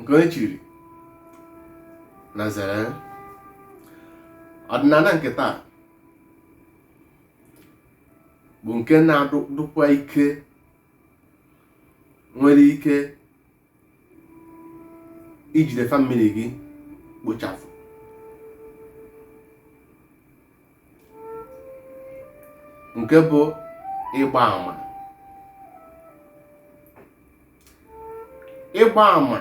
nke onye chiri na-ezere ọdịnala nke taa bụ nke na-adụkwa ike nwere ike ijide famili gị kpochapụ nke bụ ịgba ama ịgba ama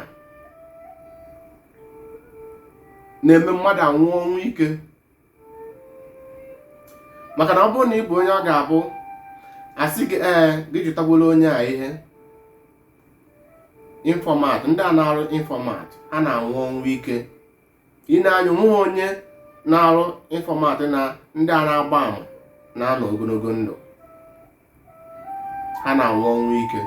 na-eme mmadụ anwụọ ọnwụ ike maka na ọ bụrụ na ị bụ onye ọ ga-abụ a sị gị ee gị jụtagworo onye a ihe infọmat ndị a na-arụ infọmat ha na-anwụ ọnwụ ike ị nee anya o nwehe onye na-arụ infọmat na ndị a na-agba ama na-anọ ogologo ndụ ha na-anwụ ọnwụ ike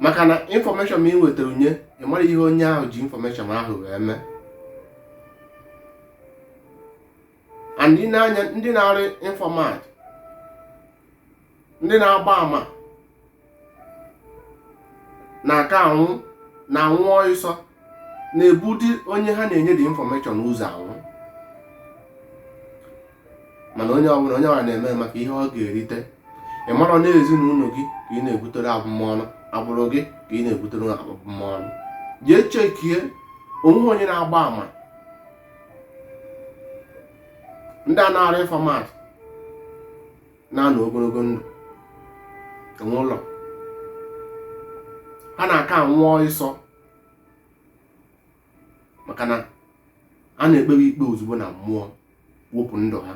maka na infọmeshọn ma i wetara nye ị marọ ihe onye ahụ ji infọmeshọn ahụ wee mee and ị nee anya ndị na-arụ infọmat ndị na-agba ama na-aka anwụ na-anwụ ọịsọ na-ebudi onye ha na-enye dị infọmeshọn ụzọ anwụ mana onye ọbụla na-eme maka ihe ọ ga-erite ị marọ na ezinụlọ gị ka ị na-ebutere abụmọnụ agbụrụ gị ka ị na-ebutere abụmọnụ jee chekie o nwehe onye na-agba ama ndị a na-arụ infọmat na-anọ ogologo ndụ o nwerọ ha na-aka anwụ ọịsọ maka na a na-ekpewe ikpe ozugbo na mmụọ wepụ ndụ ha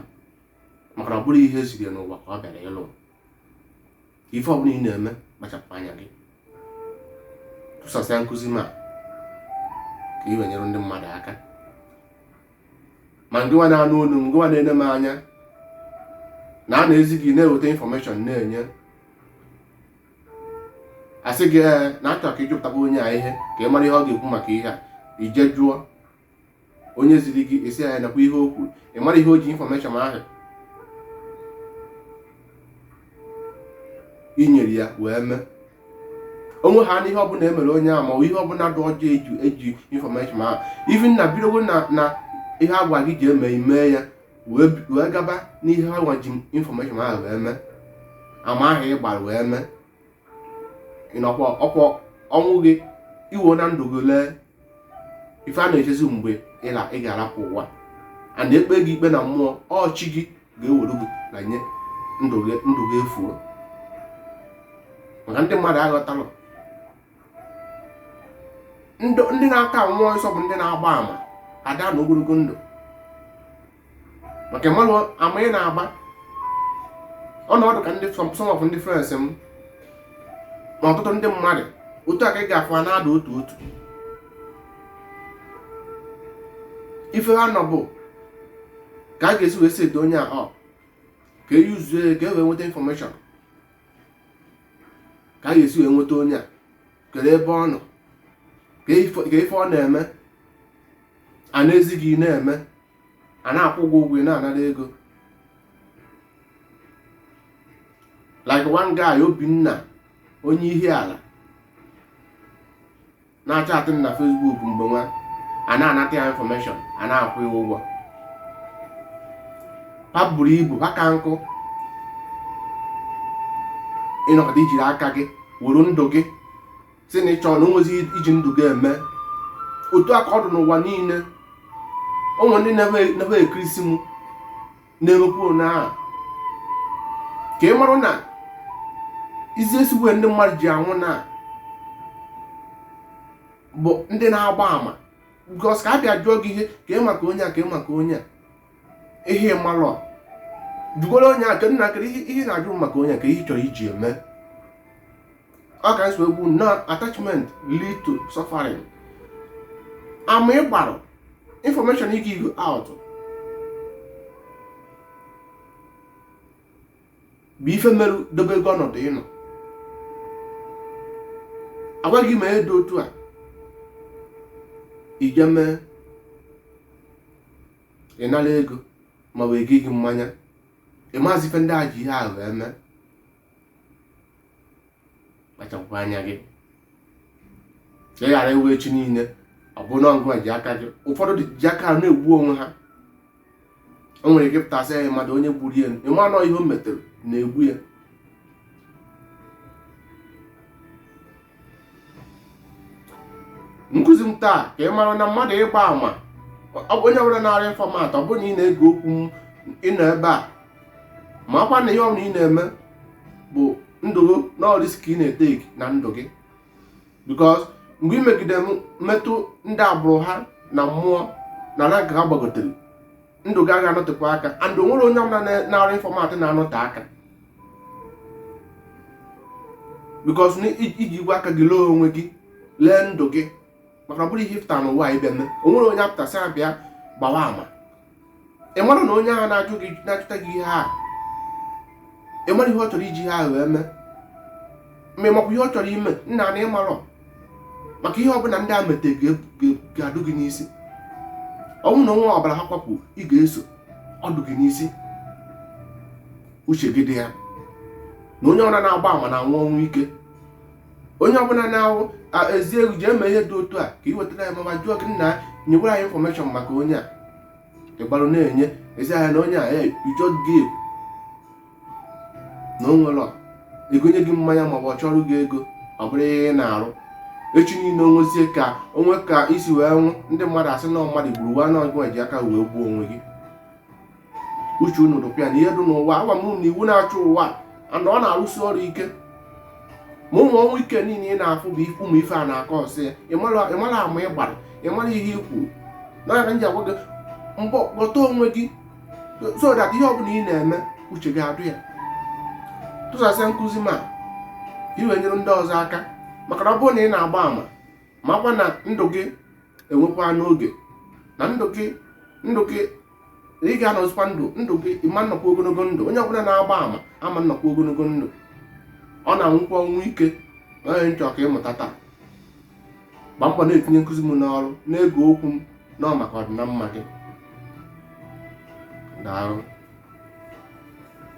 maka na ọ bụrọ ihe e ziri n'ụwa ka ọ bịara ịlụ ife ọbụla ị na-eme kpachapụ anya gị tụsasịa nkụzi m a ka ị wee nyere ndị mmadụ aka ma gịnwa na-anụ olu m gịnwa na-ene m anya na a na-ezi gị na-eweta infọmeshọn na-enye a sị gị ee eh, na a chọ ka ị jụpụtakwa onye a ihe ka ị mara ihe ọ ga-ekwu maka ihe a i jee jụọ onye ziri gị ị sị ya nekwa ihe o kwuru ị marọ ihe o ji infọmeshọn ahụ i nyere ya wee mee onwe ha n'ihe ọbụla e mere onye a ma ọ ihe ọbụla dị ọjọọ e ji infọmeshọn ahụ even na bidogo na ihe a gwa gị ji eme ime ya wee bi- wee gaba n'ihe ha nwa ji infọmeshọn ahụ wee mee ama ahụ ị gbara wee mee ịnọkwa ọkwa ọnwụ gị iwo na ndụ gị lee ife a na-echezi mgbe ịla ị ga-arapụ ụwa a na-ekpe gị ikpe na mmụọ ọ chi gị ga-ewere gị na nye ndụ gị efuo maka ndị mmadụ aghọtarọ ndị na-aka anwụ ọsọ bụ ndị na-agba àmà ada anọ ogologo ndụ maka mmadụ ama ị na-agba ọ na ọ dụ ka ndị some of ndị friends m na ọtụtụ ndị mmadụ otu a ka ị ga-afụ ha na-ada otu otu ife ha nọ bụ ka a ga-esi wee set onye ahụ ka e yuzuo ka e wee nweta information ka a ga-esi wee nweta onye a kedu ebe ọ nọ kee ife ọ na-eme a na-ezi gị na-eme a na-akwụ gị ụgwọ ị na-anara ego like one guy obinna onye Ihiala na-achatị na Facebook mgbe nwa a na-anata ya information a na-akwụ ya ụgwọ ha buru ibu ha ka nkụ ị nọkata i jiri aka gị were ndụ gị si na ị chọrọ na onwezi iji ndụ gị eme otu a ka ọ dị n'ụwa niile o nwe ndị nọ ebe ekirisi m na-emekwu na ka ị marụ na easiest way ndị mmadụ ji anwụ na bụ ndị na-agba ama because ka a bịa jụọ gị ihe ka ị maka onye a ka ị maka onye a ihe ị malụ jụgoro onye a ka nna kedu ihe na-ajụ maka onye a kee ihe chọrọ iji eme ọ ka nsogbu na attachment lead to suffering ama ị gbarụ information ị give out bụ ife merụ dobe gị ọnọdụ ị nọ a gwa gị meedụ otu a i jee mee ị nara ego ma ọ bụ e goo gị mmanya ị mazị ife ndị a ji ihe ahụ eme kpachapụkwa anya gị ka ị ghara iwe echi niile ọ bụ na ọgụ ji aka gị ụfọdụ ji aka na-egbu onwe ha o nwere ike pụta sị ya mmadụ onye gburu ya ị ma na ọ ihe o metere na-egbu ya nkụzi m taa ka ị mara na mmadụ ịgba ama onye ọbụla na-arụ informant ọ bụrụ na ị na-ege okwu m ị nọ ebe a makwa na ihe ọbụla ị na-eme bụ ndụ gị na risk ị na-eteki na ndụ gị because mgbe ị megide metụ ndị agbụrụ ha na mmụọ na rank ha gbagotere ndụ gị agaghị anọtekwa aka and o nwerọ onye ọbụla na-arụ informant na-anọte aka because i jigwo aka gị lee onwe gị lee ndụ gị maka ọ bụrọ ihe ị pụta n'ụwa ịbịa mee o nwerọ onye pụta sị ya bịa gbawa ama ị mara na onye ahụ na-ajụ gị na-ajụta gị ihe ahụ ị mara ihe ọ chọrọ iji ihe ahụ wee mee ma ị makwa ihe ọ chọrọ ime nna na ị marọ maka ihe ọbụla ndị a mete ga-adụ gị n'isi ọ bụrụ na o nwee ọbara ha kwapụ ị ga-eso ọ dụ gị n'isi uche gị dị ya na onye ọbụla na-agba ama na-anwụ ọnwụ ike onye ọbụla na-awụ ezi egwu ji eme ihe dị otu a ka ị wetara ya mama jụọ gị nna nyewere anyị information maka onye a ịgbarụ na-enye ezi ahịa na onye a ya ijọ gị na o nwere ike gonye gị mmanya maọbụ ọ chọọrọ gị ego ọ bụrụ ihe ị na-arụ echi niile o nwezie ka o nwee ka i si wee nwụ ndị mmadụ asị na mmadụ gburu mana ọ gị ji aka wee gbuo onwe gị uche unu dụkwa ya na ihe dị n'ụwa agwa m na iwu na-achị ụwa and ọ na-arụsi ọrụ ike ma ụmụ ọnwụ ike niile ị na-afụ bụ ụmụ ife a na-akọọsị ya ị mara ama ị gbara ị mara ihe i kwuru ya ka m ji agwa gị mbọ ghọta onwe gị so that ihe ọbụla ị na-eme uche gị adụ ya tụsasịa nkụzi m a i wee nyere ndị ọzọ aka maka na ọ bụrụ na ị na-agba ama makwa na ndụ gị enwekwa n'oge na ndụ gị ndụ gị na ị ga-anọzikwa ndụ ndụ gị ị ma-anọkwa ogologo ndụ onye ọbụla na-agba ama ama-anọkwa ogologo ndụ ọ na-anwụkwa ọnwụ ike ọ ihe m chọ ka ị mụta taa gba mbọ na-etinye nkụzi m n'ọrụ na-ege okwu m na ọ maka ọdịna mma gị daalụ